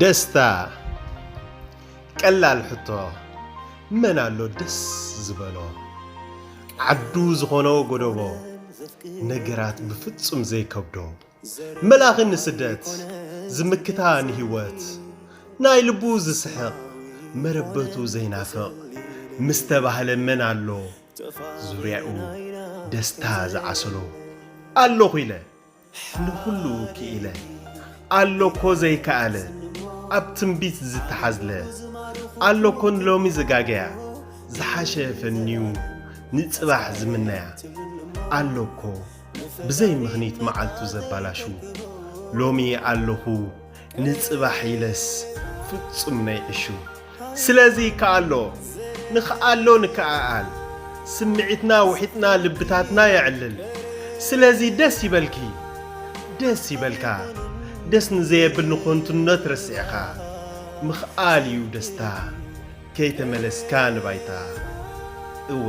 ደስታ ቀላል ሕቶ መን ኣሎ ደስ ዝበሎ ዓዱ ዝኾኖ ጎደቦ ነገራት ብፍጹም ዘይከብዶ መልኣኺ ንስደት ዝምክታ ንህይወት ናይ ልቡ ዝስሕቕ መረበቱ ዘይናፍቕ ምስ ተባህለ መን ኣሎ ዙርያኡ ደስታ ዝዓሰሎ ኣለኹ ኢለ ንኹሉ ክኢለ ኣሎኮ ዘይከኣለ ኣብ ትንቢት ዝተሓዝለ ኣሎኮ ንሎሚ ዝጋገያ ዝሓሸ ፈንዩ ንጽባሕ ዝምነያ ኣሎኮ ብዘይ ምኽኒት መዓልቱ ዘባላሹ ሎሚ ኣለኹ ንጽባሕ ኢለስ ፍጹም ነይዕሹ ስለዚ ይከኣሎ ንክኣሎ ንከኣኣል ስምዒትና ውሒጥና ልብታትና የዕልል ስለዚ ደስ ይበልኪ ደስ ይበልካ ደስ ንዘየብል ንኾንቱነት ረሲዕኻ ምኽኣል እዩ ደስታ ከይተመለስካ ንባይታ እወ